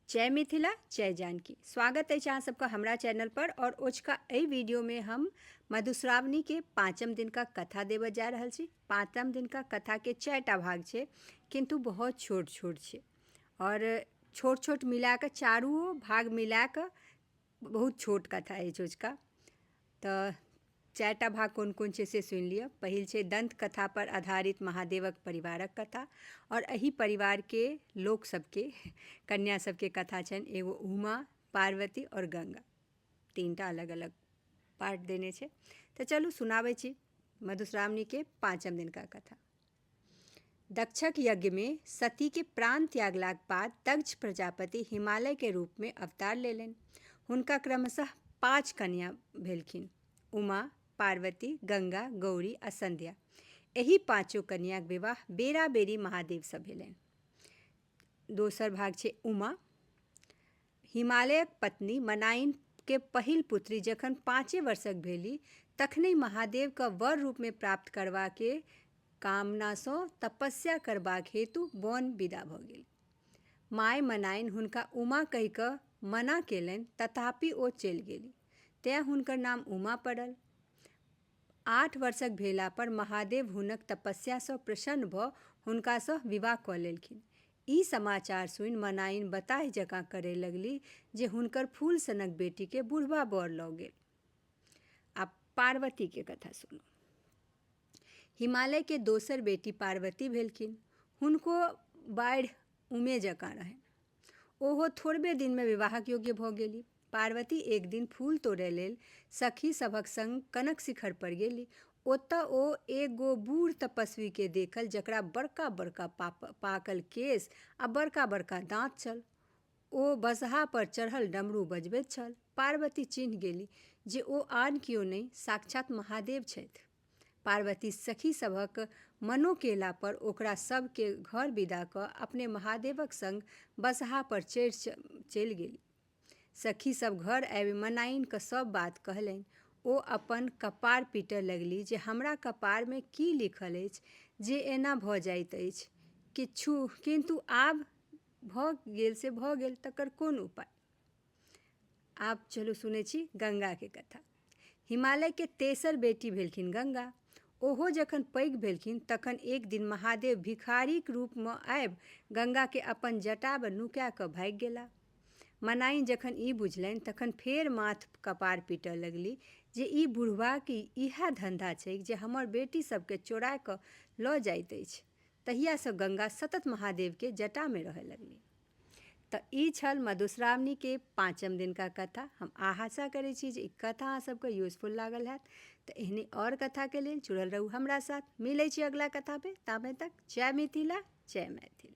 जय मिथिला जय जानकी स्वागत अछि अहाँ सबके हमरा चैनल पर और ओझका एहि वीडियो में हम मधुश्रावणी के पाँचम दिन का कथा देबऽ जा रहल छी पाँचम दिन का कथा के चारिटा भाग छै किंतु बहुत छोट छोट छै और छोट छोट मिला कऽ चारू भाग मिला कऽ बहुत छोट कथा अछि ओझका तऽ चारिटा भाग कोन कोन छै से सुनि लिअ पहिल छै दन्त कथा पर आधारित महादेवक परिवारक कथा आओर एहि परिवारके लोक सबके कन्या सबके कथा छनि एगो उमा पार्वती आओर गंगा तीनटा अलग अलग पार्ट देने छै तऽ चलू सुनाबै छी मधुश्रावणीके पाँचम दिनका कथा दक्षक यज्ञ में सती के प्राण त्यागलाक बाद दक्ष प्रजापति हिमालय के रूप में अवतार लेलनि हुनका क्रमशः पाँच कन्या भेलखिन उमा पार्वती गंगा गौरी आ संध्या एहि पाँचो कन्याक विवाह बेरा बेरी महादेव से भेलनि दोसर भाग छै उमा हिमालयक पत्नी मनाइन के पहिल पुत्री जखन पाँचे वर्षक भेली तखनहि महादेवके वर रूपमे प्राप्त करबाक कामनासँ तपस्या करबाक हेतु बन विदा भऽ गेल माय मनाइन हुनका उमा कहि कऽ मना केलनि तथापि ओ चलि गेली तैँ हुनकर नाम उमा पड़ल आठ वर्षक भेला पर महादेव हुनक तपस्या सँ प्रसन्न भऽ हुनका सँ विवाह कऽ लेलखिन। ई समाचार सुनि मनाइन बताहि जकाँ करए लगलीह जे हुनकर फूल सनक बेटी केँ बुढ़बा बर लऽ गेल। आब पार्वती के कथा सुनू। हिमालय के दोसर बेटी पार्वती भेलखिन। हुनको बाढ़ि उमे जकाँ रहनि। ओहो थोड़बे दिनमे विवाहक योग्य भऽ गेली। पार्वती एक दिन फूल तोड़य लेल सखी सभक संग कनक शिखर पर गेली। ओतय ओ एक गो बूढ़ तपस्वी केँ देखल जकरा बड़का-बड़का पाकल केश आ बड़का-बड़का दाँत छल। ओ बसहा पर चढ़ल डमरू बजबैत छल। पार्वती चिन्ह गेली जे ओ आन कियो नहि, साक्षात महादेव छथि। पार्वती सखी सभक मनो केला पर ओकरा सभ के घर विदा क अपने महादेवक संग बसहा पर चढ़ि चलि गेली। सखी सभ घर आबि मनाइन क सभ बात कहलनि। ओ अपन कपार पीटय लगली जे हमरा कपार मे की लिखल अछि जे एना भ जाइत अछि। किछु किन्तु आब भ गेल से भ गेल तकर कोन उपाय। आब चलू सुनै छी गंगाके कथा हिमालयके तेसर बेटी भेलखिन गंगा ओहो जखन पैघ भेलखिन तखन एक दिन महादेव भिखारीक रूपमे आबि गंगाके अपन जटामे नुका कऽ भागि गेला मनाइन जखन ई बुझलनि तखन फेर माथ कपार पीटय लगली जे ई बुढ़बाके इएह धन्धा छैक जे हमर बेटी सभके चोरा कऽ लऽ जाइत अछि तहियासँ गंगा सतत महादेवके जटामे रहय लगली तऽ ई छल मधुश्रावणीके पाँचम दिनका कथा हम आशा करै छी जे ई कथा अहाँ सबके यूजफुल लागल हैत तऽ एहने आओर कथाके लेल जुड़ल रहू हमरा साथ मिलै छी अगिला कथामे ताबे तक जय मिथिला जय मैथिली